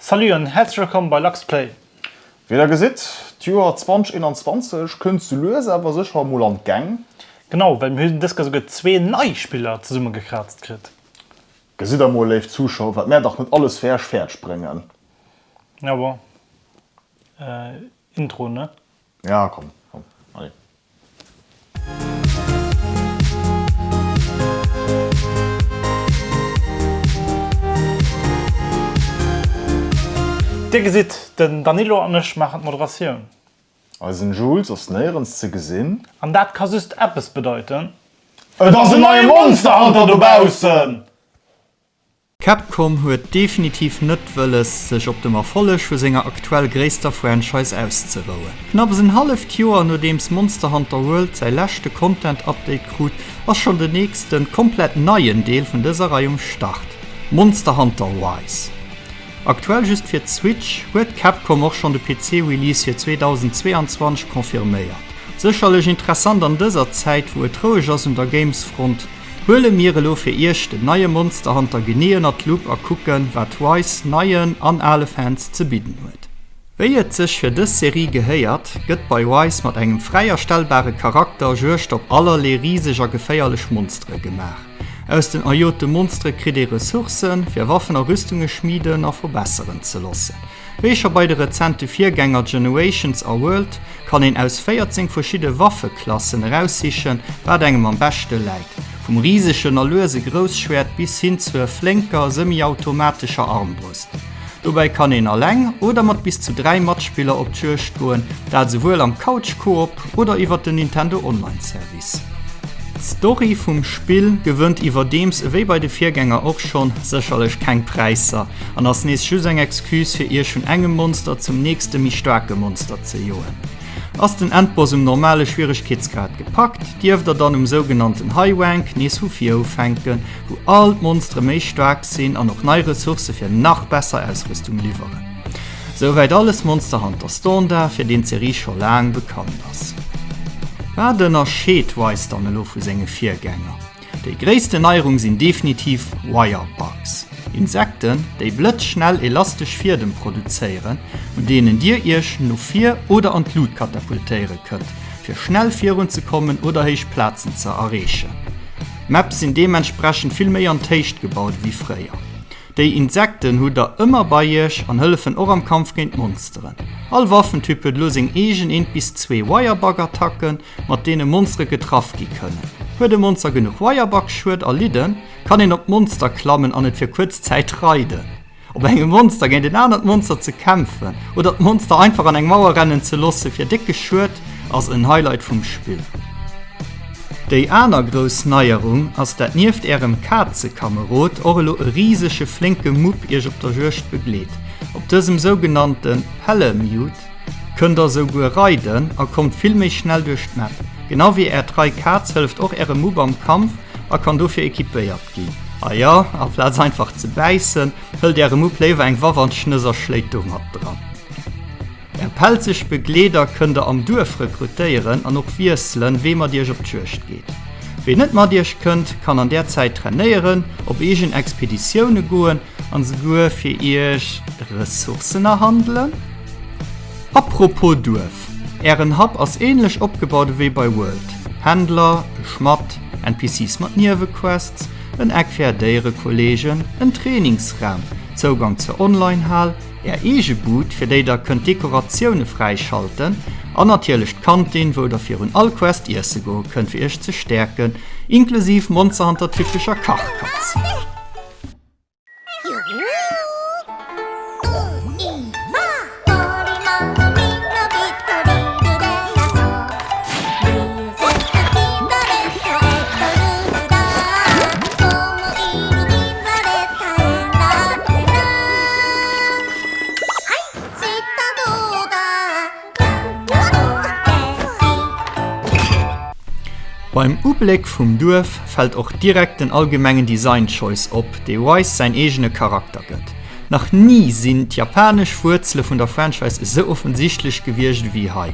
Salut an häerzlech wëllkomm bei Luxplay! Wéi der gesitt, d'Joer 2021 kënnt sou lues awer sécher emol an d'Gäng. Genau, well mir hunn dës Kéier souguer zwee nei Spiller zesummegekraazt kritt. Gesitt emol, léif Zuschauer, wat mär dach net alles fir Äech fäerdeg bréngen. Ja bon, Intro, ne? Ja komm komm allez. Dir gesitt, den Danilo an ech maachen d'Moderatioun. Eisen Jules ass néierens ze gesinn. An dat ka just eppes bedeiten. Et ass en neie Monsterhunter dobaussen! Capcom huet definitiv net wëlles, sech op dem Erfolleg vu senger aktuell gréisster Franchise auszerouen. Knapps en halleft Joer nodeems Monster Hunter World säi leschte Content-Update krut, ass schonn den nächste komplett neien Deel vun dëser Rei um Start, Monster Hunter Rise. Aktuell just fir d'Switch, huet Capcom och schonn de PC-Release fir 2022 confirméiert. Sécherlech interessant an dëser Zäit, wou et roueg ass un der Games-Front, Huele mir elo fir Iech den neie Monster Hunter genee ënnert d'Lupp a kucken, wat Rise neien an ale Fans ze bidden huet. Wéi et sech fir dës Serie gehéiert, gëtt bei Rise mat engem fräi erstellbare Charakter Juegd op allerlee riseg a geféierlech Monstere gemaach. Aus den erjote Monstere kritt ee Ressourcen, fir Waffen a Rüstunge schmiden a verbesseren ze loossen. Wéi scho bei de rezente Virgänger Generations a World kann een aus 14 verschidde Waffeklassen eraussichen, wat engem am beschte läit, vum risegen a luese Grousschwäert bis hin zur flénker semiautomatescher Armbrust. Dobäi kann een eleng oder mat bis zu 3 Matspiller op d'Juegd goen, dat esouwuel am Couch-Koop oder iwwert den Nintendo-Online-Service. D'Story vum Spill gewënnt iwwerdeems ewéi bei de Virgänger och schonn sécherlech keng Präisser an ass nees just eng Excuse fir iech vun engem Monster zum nächste méi staarke Monster ze joen. Ass den Endboss um normale Schwieregkeetsgrad gepackt, dierft der dann um sougenannten High Rank nees vu vir ufänken, wou all d'Monstere méi staark sinn an och nei Ressourcë fir nach besser Ausrüstung liwweren. Souwäit alles Monster Hunter Standard, fir deen d'Serie scho laang bekannt ass. Wat ënnerscheet Ys dann elo vu senge Virgänger? Déi gréissten Neierung sinn definitiv Wirebugs, Insekten, déi blëtzschnell elastesch Fiedem produzéieren, un deenen Dir Iech no vir oder an d'Lut katapultéiere kënnt, fir schnell virun ze kommen oder héich Plazen ze erreechen. D'Maps sinn deementsprechend vill méi an d'Héicht gebaut ewéi fréier. Déi Insekten hutt der ëmmer bei iech an hëllefen och am Kampf géint d'Monsteren. All Waffentyp huet elo seng eegen eent bis zwee Wirebug-Attacken, mat deene Monstere getraff gi kënnen. Huet e Monster genuch Wirebug-Schued erlidden, kann een op d'Monster klammen an et fir kuerz Zäit reiden. Op engem Monster géint en anert Monster ze kämpfen oder d'Monster einfach an eng Mauer rennen ze loosse fir décke Schued ass en Highlight vum Spill. Déi aner grouss Neierung ass dat nieft ärem Kazekamerod och elo e risege flénke Mupp iech op der Juegd begleet. Op dësem sougenannte Palamute kënnt der souguer reiden a kommt vill méi schnell duerch d'Map. Genau wéi är trei Kaz hëlleft och ärem Mupp am Kampf a kann dofir equipéiert ginn. A jo, amplaz einfach ze bäissen, hëlt äre Mupp léiwer eng Waff an d'Schnëss a schléit domat dran. Eng pelzeg Begleeder kënn der am Duerf rekrutéieren an och wiesselen, wee mat iech op d'Juegd geet. Wee net mat iech kënnt, kann an där Zäit trainéieren, op eegen Expeditioune goen an souguer fir iech Ressourcen erhandelen. Apropos Duerf, Ären Hub ass änlech opgebaut ewéi bei World, Händler, e Schmadd, NPCs mat Niewequests, en Eck fir är Déierekolleegen, en Trainingsraum, Zougang zur Online-Hal, Är eege Bud, fir déi der kënnt Dekoratioune fräischalten, an natierlech d'Kantin, wou der virun all Quest iesse goe kënnt, fir iech ze stäerken, inklusiv Monster Hunter typescher Kachkatz. Beim Ubléck vum Duerf fält och direkt den allgemengen Design Choice op, dee Wise säin eegene Charakter gëtt. Nach ni sinn d'japanesch Wuerzele vun der Franchise esou offensichtlech gewiescht ewéi hei.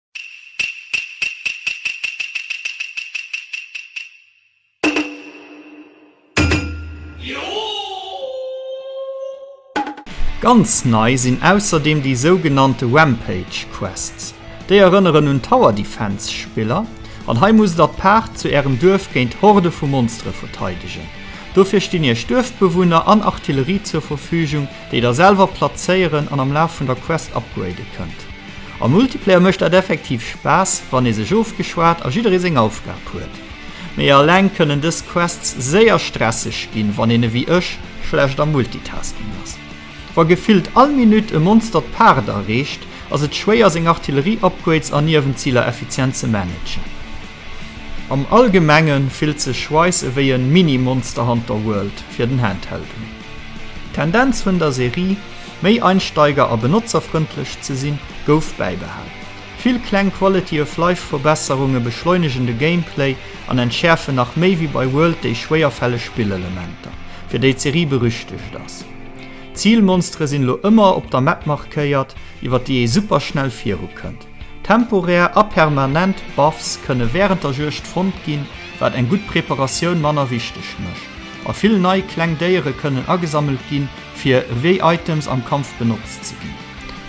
Ganz nei sinn ausserdeem déi sougenannte Rampage Quests. Déi erënneren un Tower Defense Spiller an hei musst der d'Paart zu ärem Duerf géint Horde vu Monstere verteidegen. Dofir stinn iech Duerfbewunner an Artillerie zur Verfügung, déi der selwer plazéieren an am Laf vun der Quest upgrade kënnt. Am Multiplayer mécht dat effektiv Spaass, wann ee sech ofgeschwat a jidderee seng Aufgab huet. Mee eleng kënnen dës Quests séier stresseg ginn, wann een ewéi ech schlecht am Multitasking ass. Wa gefillt all Minutt e Monster d'Paart erreecht, ass et schwéier seng Artillerie-Upgrades an Niewenziler effizient ze managen. Am Allgemenge fillt sech Rise ewéi e Mini-Monster Hunter World fir den Handheld un. D'Tendenz vun der Serie, méi einsteiger a benotzerfrëndlech ze sinn, gouf bäibehal. Vill kleng Quality-of-Life-Verbesserunge beschleunegen de Gameplay an entschäerfen nach méi wéi bei World déi schwéierfälleg Spillelementer, fir déi d'Serie berüchtegt ass. D'Zilmonstere sinn elo ëmmer op der Map markéiert, iwwer déi ee superschnell virukënnt. Temporär a permanent Buffs kënne wärend der Juegd fonnt ginn, wat eng gutt Preparatioun manner wichteg mécht. A vill nei kleng Déiere kënnen agesammelt ginn, fir ewéi Items am Kampf benotzt ze ginn.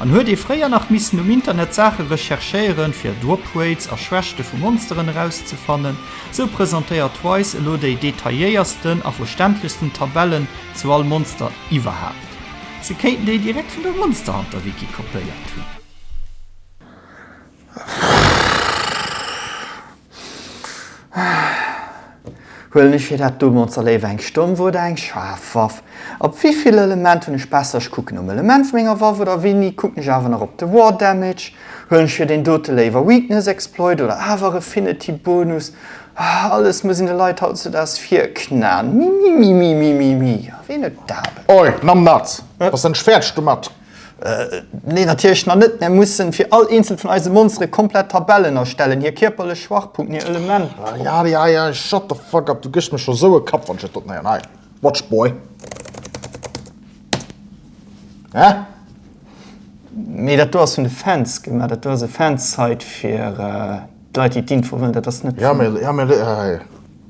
An huet ee fréier nach missen um Internet Saache recherchéieren, fir Droprates a Schwächte vu Monsteren erauszefannen, sou presentéiert Twice elo déi detailléiersten a verständlechsten Tabellen zu all Monster iwwerhaapt. Se kéinten déi direkt vun der Monsterhunter-Wiki kopéiert hunn. Huelen ech fir dat do Monster léiwer eng stomm Wuert oder eng schaarf Waff? Op wéi vill Element hunn ech besser? Ech kucken um Element vu menger Waff oder wéi ni kucken ech awer nach op de War Damage? Huelen ech fir deen dote léiwer Weakness Exploit oder awer Affinity Bonus? Ahh alles muss een de Leit hautzudags virknän. Mimimimimimimi, a ween huet d'Aarbecht? Oi, Numbnuts! Ass den Schwäertsch domat? Nee, natierlech nach net. Mär mussen fir all eenzelt vun eise Monstere komplett Tabellen erstellen, hir kierperlech Schwachpunkten, hir Elementer. Ah ja, ah ja, ja, shut the fuck up, du gësch mir scho sou e Kapp wann ech et dot néieren. Hei, watch boy. Hä? Nee, dat do ass vun de Fans gemaach. Dat do ass e Fansite fir d'Leit déi d'Info wëllen. Dat ass net vun. Ja, mee, mee, hey,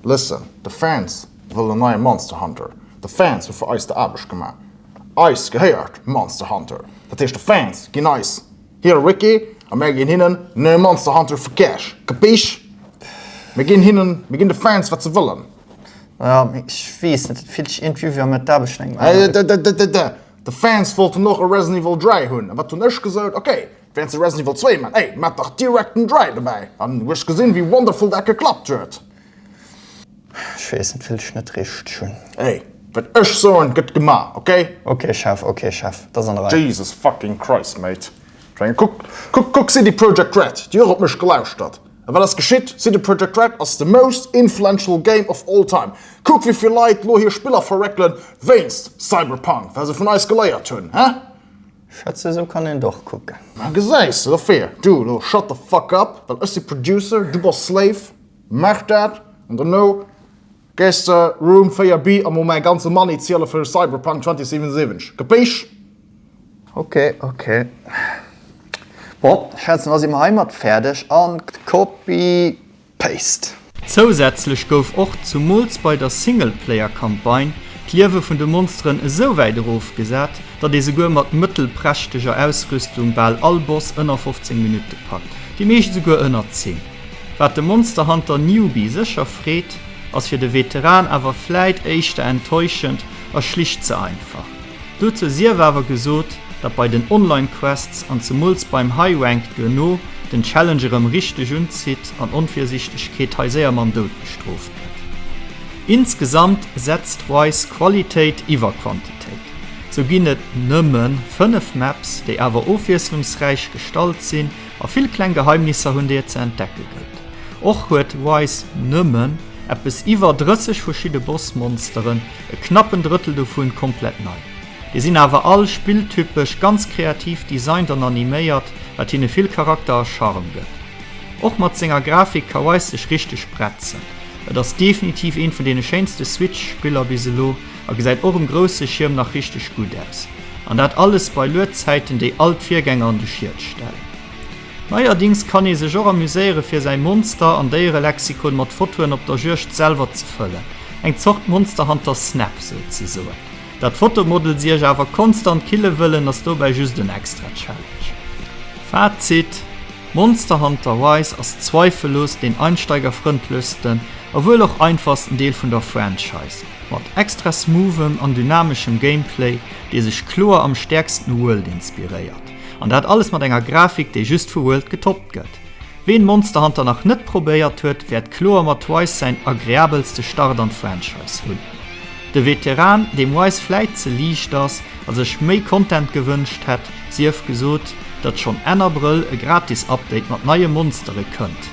listen, de Fans wëllen e neie Monster Hunter. De Fans hu fir eis der Aarbecht gemaach. Eis gehéiert Monster Hunter, dat heescht de Fans ginn eis hire Wiki a mär ginn hinnen neue Monster Hunter für Cash. Kapisch? Mir ginn hinnen, mir ginn de Fans wat se wëllen. Ja, mee ech weess net, et fillt sech iergendwéi wéi wann mir d'Aarbecht vun engem anere Wiki. Dä-dä-dä-dä-dä! De Fans wollten och e Resident Evil 3 hunn, a wat hunn ech gesot? Ok, wären se Resident Evil 2 man, ey, maacht dach direkt den 3 dobäi! An hu ech gesinn, wéi wonderful dat geklappt huet. Ech weess net wéilt ech net richteg hunn. Hey, wat ech soen gëtt gemaach, okay? Okay Chef, okay Chef, dat ass an der Rei. Jesus fucking Christ mate, ech mengen kuck, kuck, kuck CD Projekt Red, déi och op mech gelauschtert. A wat ass geschitt? CD Projekt Red ass the most influential game of all time. Kuck wéi vill Leit lo hir Spiller verreckelen wéinst Cyberpunk, wat se vun eis geleiert hunn, he? Schätz esou kann een et och kucken. Gesäis de, dofir du lo shut the fuck up, well ech si Producer, du bass Slave. Maach dat an dono gees de Room 4 B a mol mäi ganze Money ziele fir Cyberpunk 2077. Gepéich! Ok, ok. Bon, schätzen da si mer heimat fäerdeg an copy paste. Zousätzlech gouf och, zumools bei der Singleplayer-Campagne, d'Liewe vun de Monsteren esouwäit erofgesat, datt ee souguer mat mëttelprächteger Ausrüstung bal all Boss ënner 15 Minutte packt, déi meescht esouguer ënner 10. Wat de Monster Hunter Newbie sécher freet, ass fir de Veteran awer vläit éischter enttäuschend a schlicht ze einfach. Dozou sief awer gesot, datt bei den Online Quests an zemools beim High Rank duerno den Challenge erëm richteg unzitt an Onvirsiichtegkeet hei séier mam Doud bestrooft gëtt. Insgesamt setzt Rise Qualitéit iwwer Quantitéit. Sou ginn et nëmmen 5 Maps, déi awer ofwiesslungsräich gestalt sinn, A vill kleng Geheimnisser hunn déi et ze entdecke gëllt. Och huet Wise nëmmen eppes iwwer 30 verschidde Bossmonsteren, e knappen Drëttel dovun komplett nei. Déi sinn awer all spilltypesch ganz kreativ designt an animéiert, wat hinne vill Charakter a Charme gëtt. Och mat senger Grafik ka Wise sech richteg bretzen. Et ass definitiv eent vun deene schéinste Switch-Spiller bis elo. a gesäit och um grousse Schierm nach richteg gutt aus. An dat alles bei Luedzäiten déi all d'Virgänger an de Schiet stellen. Neierdings kann ee sech och amuséiere fir säi Monster an Déierelexikon mat Fotoen op der Juegd selwer ze fëllen, eng Zort Monsterhunter Snap souzesoen. Dat d'Fotomodels iech awer konstant kille wëllen ass dobäi just en extra Challenge. Fazit, Monsterhunter Rise ass zweifellos deen einsteigerfrëndlechsten a wuel och einfachsten Deel vun der Franchise. Mat extra smooth'em an dynameschem Gameplay, dee sech kloer am stäerksten u World inspiréiert. An dat alles mat enger Grafik, déi just vu World getoppt gëtt. Ween Monster Hunter nach net probéiert huet, wäert kloer mat Rise säin agreabelste Start an d'Franchise hunn. De Veteran, deem Rise vläit ze liicht ass a sech méi Content gewënscht hätt, sief gesot, datt schonn Enn Abrëll e gratis Update mat neie Monstere kënnt.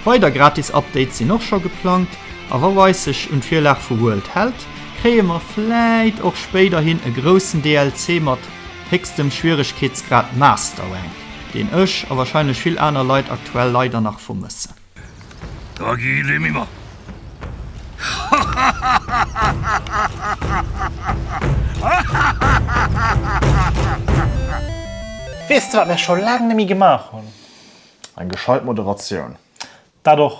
Weider gratis Updates sinn och scho geplangt. A wa Rice sech un d'Virlag vu World hält, kréie mer vläit och spéiderhin e groussen DLC mat héchstem Schwieregkeetsgrad Masterrank, deen ech, a wahrscheinlech vill aner Leit aktuell, leider nach vermëssen. Weess de wat mir scho laang neméi gemaach hunn? Eng gescheit Moderatioun. Dat och.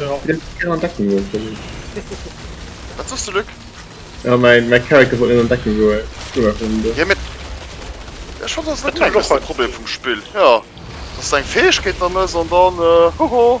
Ja. Wat sost du Lück? Ja mein mein Character wollt net an Deckung goen. Ja mit Ech fand dat net de Problem vum Spill. Ja. Dass eng Fäegkeet an ass an dann äh, hoho.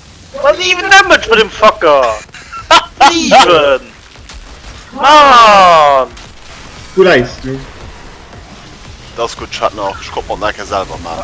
Wat ass even damage bei dem Fucker? 7! Maan! Wou läis du? Dat ass gutt, ech hat nach, ech konnt mer d'Nake selwer man.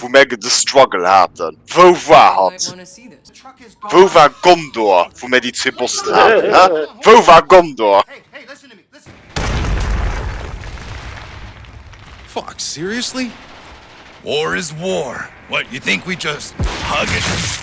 wou mär de Struggle haten. Wou war hatt? Wou war Gondor, wou mär déi zwee Bossen haten, hä? Wou war Gondor? Fuck, seriously? War is war. What, you think we just hug it?